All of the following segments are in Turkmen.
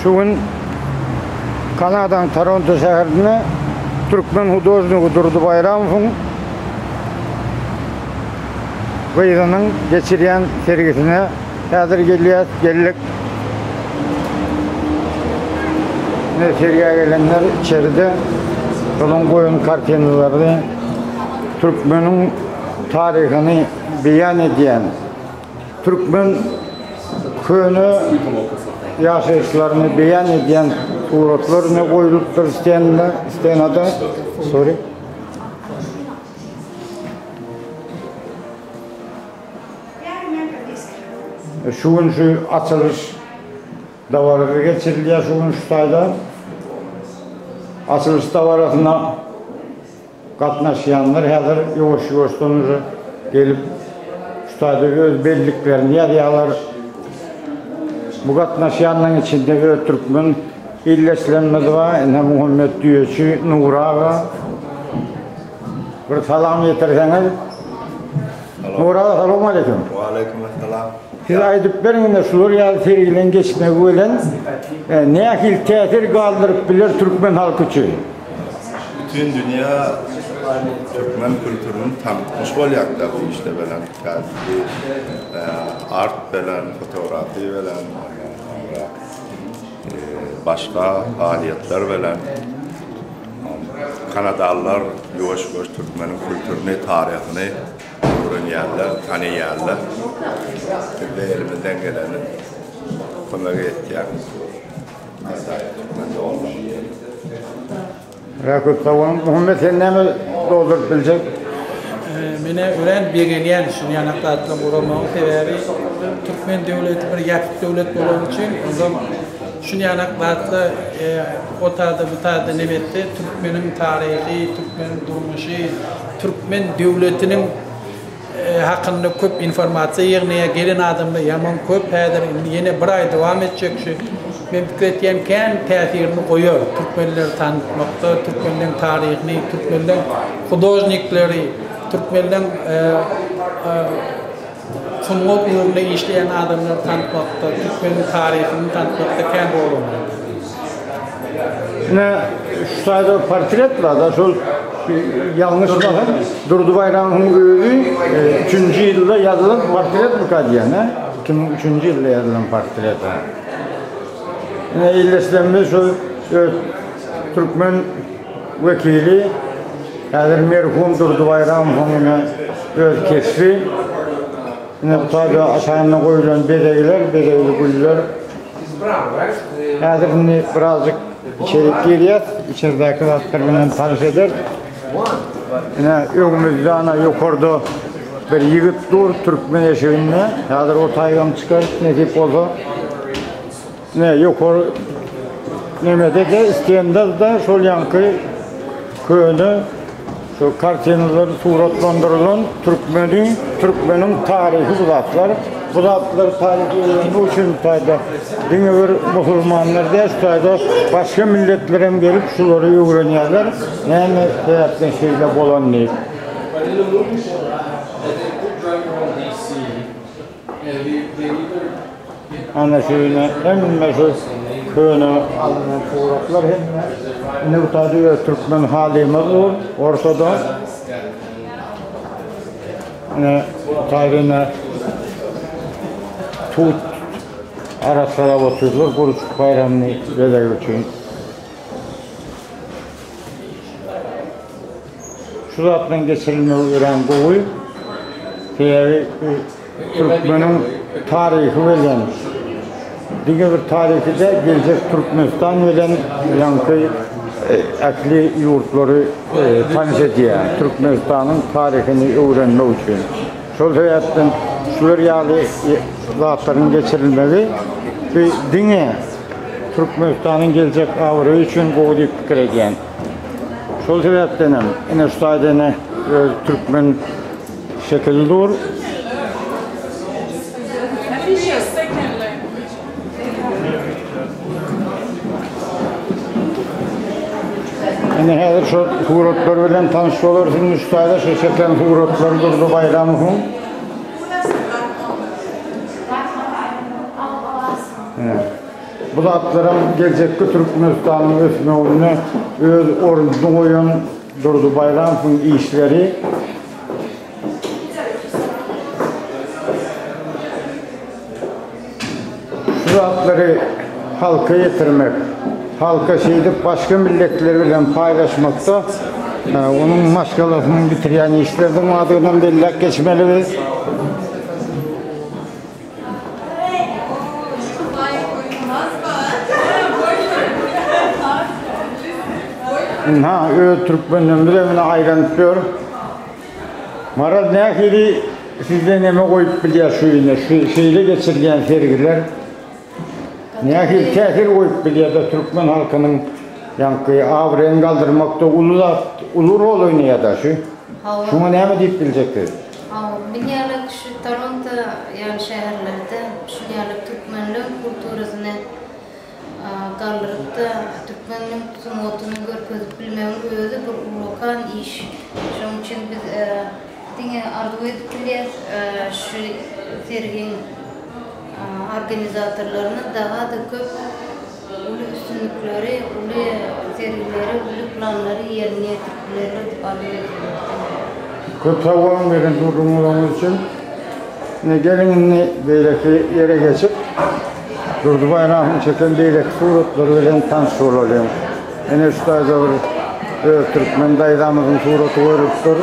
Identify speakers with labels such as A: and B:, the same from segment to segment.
A: Şu gün Kanadanyň Toronto şäherinde türkmen hudožnigi Durdy Baýramowyň gyzynyň geçirýän sergisine häzir gelýäs, geldik. Ine, sergä gelenler içeride onuň goýan kartinalary türkmeniň taryhyny beýan edýän Türkmen köne ýaşaýyşlaryny beýan edýän suratlar ne goýlupdyr stenda, stenada, sorry. Şu gün şu açylyş dabarasy geçirilýär şu gün şu taýda. Açylyş dabarasyna Gatnaşýanlar häzir ýuwaş-ýuwaşdan uje gelip, şu taýda öz belliklerini ýazýarlar. Bu gatnaşýanlaryň içinde öz türkmen ildeşlerimiz bar. Ine, Muhammet düýeçi Nury aga. Bir salam ýetirseňiz. Nury aga, salowmaleýkim. Waleýkumessalam.
B: Siz aýdyp
A: beriň, ine, şular ýaly serginiň geçmegi bilen nähili täsir galdyryp biler türkmen halky üçin? Bütin
B: dünýä türkmen kültüriniň tankyş bolýardylar bu işde bilen. Kädiki art bilen, fotografiýa bilen, ondan soňra başga faalýetler bilen. Kanadalylar ýuwaş-ýuwaş türkmeniň kültürini, taryhyny öwrenýärler, tanaýarlar. Biz-de elimizden geleni kömek etýäris.
A: Ýa köp sag boluň. Muhammet sen näme dolduryp biljek? Men
C: örän begenýän şu ýanak zatlaryň guramagyny sebäbi türkmen döwleti bir ýapyk döwlet bolany üçin ondan şu ýanak zatla o taýda bu taýda neme etse türkmeniň taryhy türkmeniň durmuşy türkmen döwletiniň hakynda köp informasiýa ýygnaýa gelen adamlar ýaman köp häzir indi ýene bir aý dowam etjek şu men pikir etýän kän täsirini goýar türkmenleri tanıtmakda türkmenleň taryhyny türkmenleň hudožnikleri türkmenleň e, e, sungat ugrunda işleýän adamlary tanıtmakda türkmeniň taryhyny tanıtmakda kän rol oýnar Ine
A: şu taýda portret bar-da, şol ýalňyşmasam Durdy Baýramowyň özi 3-nji ýylda ýazylan portretmika diýýän, hä? 2003-nji ýylda ýazylan portret. Ine elleşlemde şu öz türkmen wekili häzir merhum Durdy Baýramowyň ine öz keşbi. Ine bu taýda aşagynda goýlan bezegler, bezegli güller. Häzir indi birazjyk içerik girýär. Içeridäki zatlar bilen tanyş eder. Ine öňümizde ana ýokarda bir ýigit dur türkmen eşiginde. Häzir o taýdan çykar nesip bolsa. Ne ýokary nemede de Isgenderde şol ýaňky köne Şu kartinalar suratlandyrylan türkmeni, türkmeniň taryhy bu zatlar. Bu zatlar taryhy öwrenmek üçin bu taýda diňe bir musulmanlar däl, şu taýda başga milletler hem gelip şulary öwrenýärler. Näme sebäpden şeýle bolan diýip. Ana şeýle hemme şu köne alnan suratlar hem indi bu taýda öz türkmen halymyz bu Orsada. Ine bu taýda ine tut arassalap oturdylar gurçuk baýramyny bezeg üçin. Şu zatlaryň geçirilmegi örän gowy. Sebäbi bu türkmeniň taryhy bilen, diňe bir taryhy däl, geljek Türkmenistan bilen ýaňky ähli ýurtlary tanyş edýär. Türkmenistanyň taryhyny öwrenmek üçin. Şol sebäpden şular ýaly zatlaryň geçirilmegi bu diňe Türkmenistanyň geljek abraýy üçin gowy diýip pikir edýän. Şol sebäpden hem ine şu taýda ine öz türkmen şekili dur. Ine häzir şu suratlar bilen tanyş bolarsyň şu taýda şu çeken suratlar durdy Baýramowyň. Ine. Bu zatlaram geljekki Türkmenistanyň ösmeginde öz ornuny goýan Durdy Baýramowyň işleri. Şu zatlary halka ýetirmek, halka şeýdip başga milletler bilen paýlaşmakda onuň maşgalasynyň bitirýän işleriniň bardygyny hem belläp geçmeli biz. Ynha, öz türkmenlerimiz hem ine aýlanyp ýör. Maral nähili sizde neme goýup bilýär şu ine, şu şeýle geçirilýän sergiler? Nähili täsir goýup bilýär-de türkmen halkynyň ýaňky abraýyny galdyrmakda uly zat, uly rol oýnaýar-da şu. Şuňa näme diýip biljeksiz? Bin ýaly
D: kişi Toronto ýaly şäherlerde şuň ýaly türkmenleň kulturasyny galdyryp-da, türkmeniň sungatyny görkezip bilmegiň özi bir ullakan iş. Şoň üçin biz diňe arzuw edip bilýäs, şu sergiň organizatorlaryna daga-da köp. Uly üstünlikleri, uly sergileri, uly
A: planlary ýerine ýetirip bilerler diýip arzuw edýärin. Diňe. Köp sag boluň beren gürrüňleriňiz üçin. Ine, geliň indi beýleki ýere geçip, Durdy Baýramowyň çeken beýleki suratlary bilen tanyş bolalyň. Ine, şu taýda bir öz türkmen daýzamyzyň suraty goýlup dur.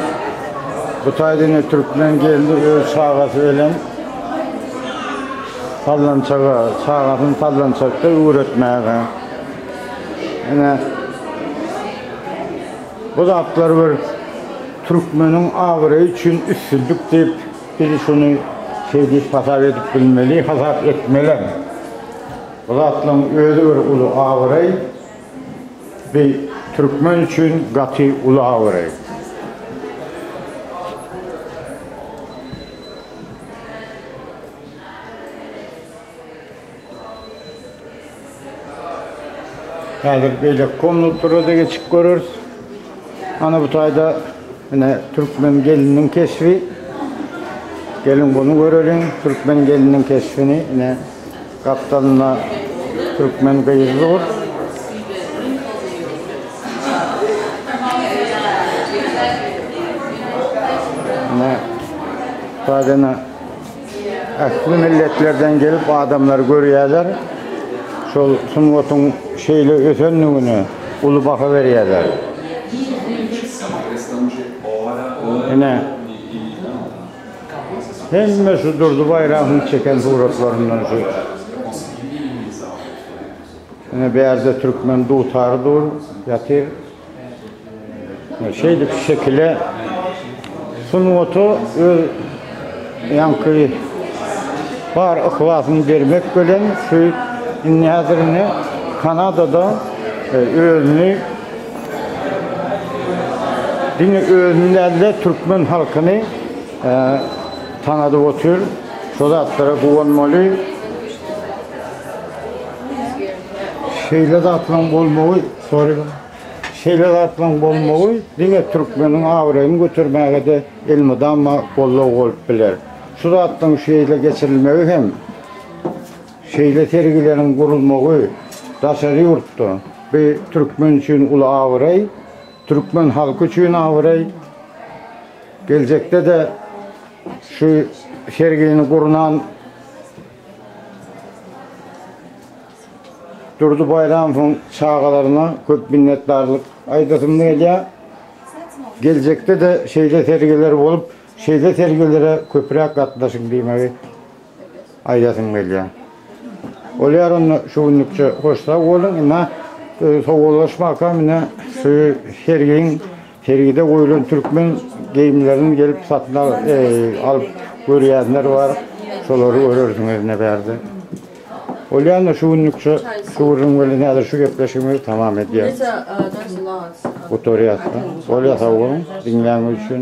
A: Bu taýda ine türkmen gelni öz çagasy bilen. Sallançaga, çagasyny sallançakda öwretmäge. Ine, bu zatlar bir türkmeniň abraýy üçin üstünlik diýip, biz şuny şeý diýip hasap edip bilmeli, hasap etmelem. Bu zatlaryň özi bir uly abraý, bir türkmen üçin gaty uly abraý. Häzir beýleki komnatlara-da geçip göreris. Ana bu taýda ine türkmen gelniniň keşbi. Geliň bunu göreliň. Türkmen gelniniň keşbini ine gapdalynda türkmen gyzy dur. Ine taýda Ähli milletlerden gelip adamlar görýärler. Şol sungatyň şeýle ösendigine uly baha berýärler. Ine, hemme şu Durdy Baýramowyň çeken suratlaryndan şu. Ine, bärde türkmen dutary dur, ýatyr. Şeýdip şekile sungaty öz ýaňky bar yhlasyny bermek bilen şu indi häzirine Kanadada e, özüni diňe özüni däl-de türkmen halkyny e, tanadyp otyr. Şu zatlara guwanmaly. Şeýle zatlaryň bolmagy Soraýlyň. Şeýle zatlaryň bolmagy diňe türkmeniň abraýyny götermäge-de elmydama goldaw bolup biler. Şu zatlaryň şeýle geçirilmegi hem, şeýle sergileriň gurulmagy daşary ýurtda bu türkmen üçin uly abraý, türkmen halky üçin abraý. Geljekde-de şu sergini gurnan. Durdy Baýramowyň çagalaryna köp minnetdarlyk aýdasym gelýär. Geljekde-de şeýle sergiler bolup, şeýle sergilere köpräk gatnaşyň diýmegi aýdasym gelýär. Bolýar onda şu günlükçe hoş sag boluň. Ine, sowallaşmakam ine şu sergiň Sergide goýlan türkmen geýimlerini gelip satyn alyp görýänler bar. Şolary görersiňiz ine bärde. Bolýanda şu günlük şu gürrüň bilen häzir şu gepleşigimizi tamam edýäris. Gutarýas-da. Bolýa sag boluň diňläniňiz üçin.